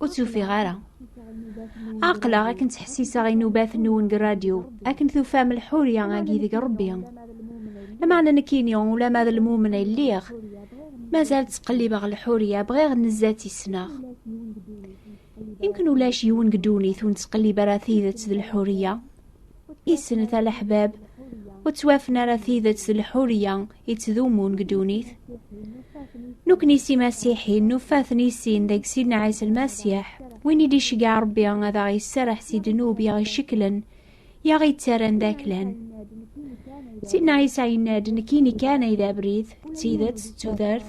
Ur tt-ufiɣ ara. Aqlaɣ akken ttḥessiseɣ inubaten nwen deg rradyu, akken tufam lḥurya-agi deg Rebbi. Lameɛna nekkini, ulama d lmumen ay lliɣ, mazal ttqellibeɣ lḥurya, bɣiɣ nezzat i ssneɣ. Yemkin ulac yiwen deg ddunit ur nettqellib ara tidet d lḥurya. isnet a leḥbab ur ttwafen ara tidet d lḥurya i ttdumun deg ddunit nukni si masiḥi nufaten i sin deg sin ɛisa lmasiḥ win i d-iceggeɛ rebbi ad aɣ yesserreḥ si ddnub i aɣ-iceklen i aɣ-yettaran d aklan sidna ɛisa yenna-d nekkini kan ay d abrid d tidet d tudert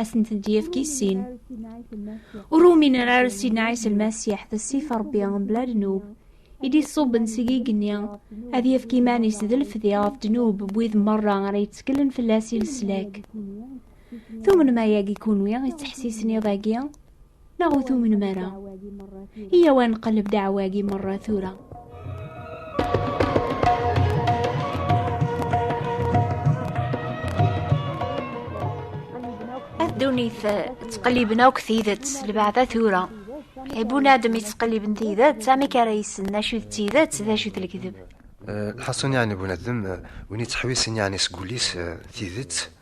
ad sent-d-yefk i sin. Ur uminen ara s Sinai s Lmasiḥ d ssif Ṛebbi mebla ddnub, i d-iṣubben seg igenni ad yefk iman-is d lefdi ɣef ddnub n wid merra ara yetteklen fell-as i leslak. Tumnem ayagi kunwi i ttḥessisen iḍ-agi? Neɣ ur tumnem ara? Iyaw ad nqelleb ddeɛwa-agi merra tura. ddunit ttqelliben akk tidet lbaɛda tura ibunadem yettqelliben tidet amek ara yessen d acu d tidet d acu d lekdeb lḥasun yeɛni bunadem win yettḥewisen yeɛni seg wul-is tidet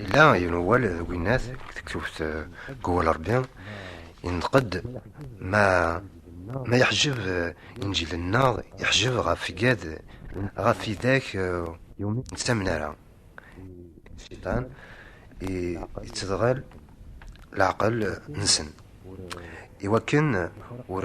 Yella yiwen wawal deg winnat deg tektubt deg wawal Rebbi yenṭeq-d ma ma yeḥjeb inǧilen-nneɣ yeḥjeb ɣef igad ɣef tidak ur nettamen ara cciṭan yettedɣal leɛqel-nsen iwakken ur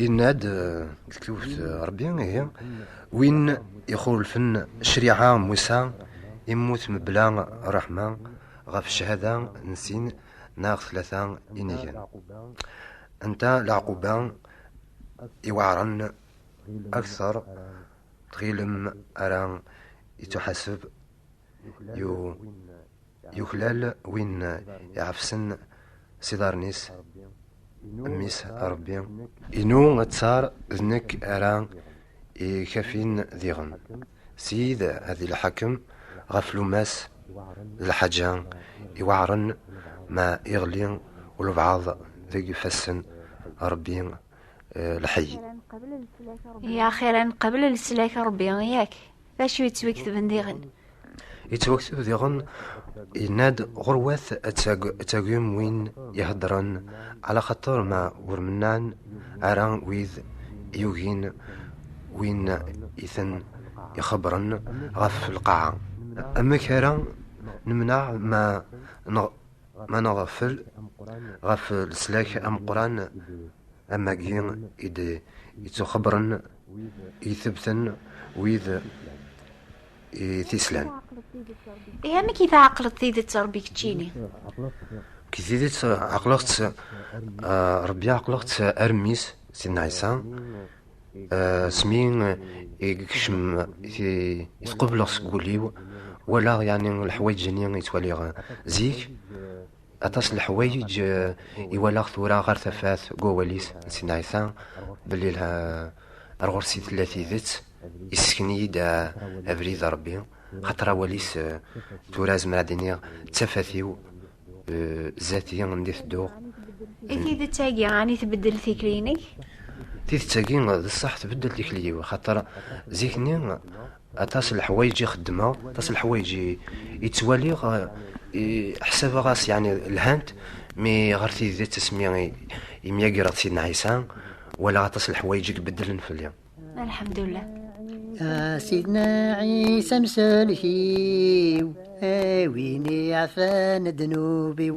Yenna-d eh, deg tewt eh, Rebbi ihi win ixulfen ccṛiɛa n Musa immut mebla ṛṛeḥma ɣef ccahada n sin neɣ tlata inigen. Anta leɛquba iweɛṛen akteṛ tɣilem ara ittuḥaseb yu Yuklal win iɛefsen s iḍarren-is mmi-s a Ṛebbi. Inu ttar d nekk ara ikafin diɣen. Ssid ad ileḥḥakem ɣef lummas d lḥaǧa iweɛṛen ma iɣli ulebɛaḍ deg ifassen a Ṛebbi lḥeyy. Axir ad neqbel leslak a Ṛebbi, yak? D acu yettweketben diɣen? Yettwakteb diɣen yenna-d ɣurwat ad tagim win iheddren ala xaṭer ma ur mennan ara wid yugin win iten ixebbren ɣef lqaɛa. Amek ara nemneɛ ma ma nɣeffel ɣef leslak ameqqran am wagi i d-yettuxebbren Itebten wid tislan. Ihi amek i tɛeqleḍ tidet Rebbi keččini? Ki tidet ɛeqleɣ-tt Rebbi ɛeqleɣ-tt armis Sidna Ɛisa smi ikcem itqebleɣ seg wul-iw walaɣ yani leḥwayeǧ-nni yettwaliɣ zik Aṭas n leḥwayeǧ i walaɣ tura ɣer tafat n wawal-is n Sidna Ɛisa belli ar ɣur-s i tella tidet, yessken-iyi-d abrid n Ṛebbi, xaṭer awal-is tura zemreɣ ad d-iniɣ d tafat-iw zdat-i anda i tedduɣ. I tidet-agi, ɛni tbeddel tikli-inek? Tidet-agi d ṣṣeḥ tbeddel tikli-iw, xaṭer zik-nni Aṭas n leḥwayeǧ i xeddmeɣ, aṭas n leḥwayeǧ i ttwaliɣ, ḥsabeɣ-as yeɛni lhant, mi ɣer tidet asmi i myagreɣ d Sidna Ɛisa, walaɣ aṭas n leḥwayeǧ i ibeddlen fell-i. Alḥemdullah. A Sidna Ɛisa amsellek-iw, a win iɛfan ddnub-iw.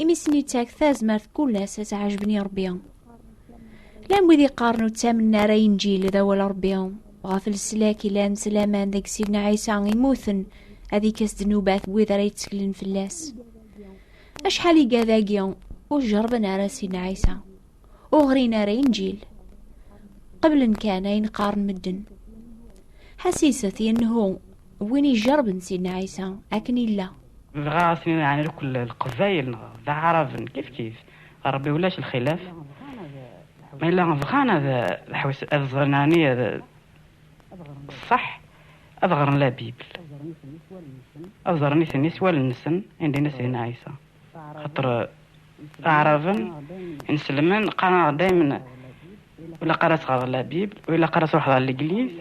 imi sen-ittak tazmert kul ass ad ɛejben i rebbi llan wid iqqaren ur ttamen ara inǧil d awal rebbi ɣef leslak ilan s laman deg sidna ɛisa imuten ad ikes ddnubat n wid ara yetteklen fell-as acḥal i gadagi ur jerben ara sidna ɛisa ur ɣrin ara inǧil qeblen kan ayen qqaren medden ḥasiset yennehu win ijerben sidna ɛisa akken illa dɣa asen ɛni lkul lqbayel neɣ d aɛraben kif kif rebbi ulac lxilaf ma yella bɣan ad ḥwis ad ẓren ɛni ad ṣṣeḥ ad ɣren la bibl ad ẓren isem-is wal-nsen indin-as din ɛisa xaṭer d aɛraben ineslmen qqaren-aɣ daymen ilaq ara tɣreḍ la bib u ilaq ara truḥeḍ ar legliz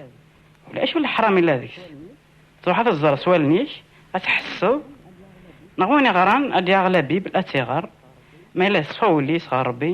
u la acu leḥram illa deg-s truḥ ad t-ẓer s wallen-ik ad tḥesseḍ neɣ win iɣran ad yaɣ la bib ad tt-iɣer ma illa yeṣfa wul-is ɣer Rebbi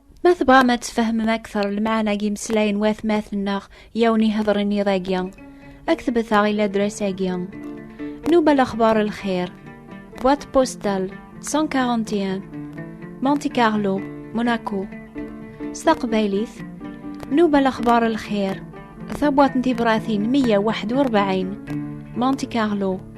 Ma tebɣam ad tfehmem akteṛ lemɛana n yimeslayen n watmaten-nneɣ i awen-iheḍṛen iḍ-agi, ad k-tbet-aɣ i ladras-agi. Nuba lexbaṛ lxir, boîte postale 141, Monte Carlo, Monaco. S taqbaylit, Nuba lexbaṛ lxir, tabwaṭ n tibṛatin 141, Monte Carlo.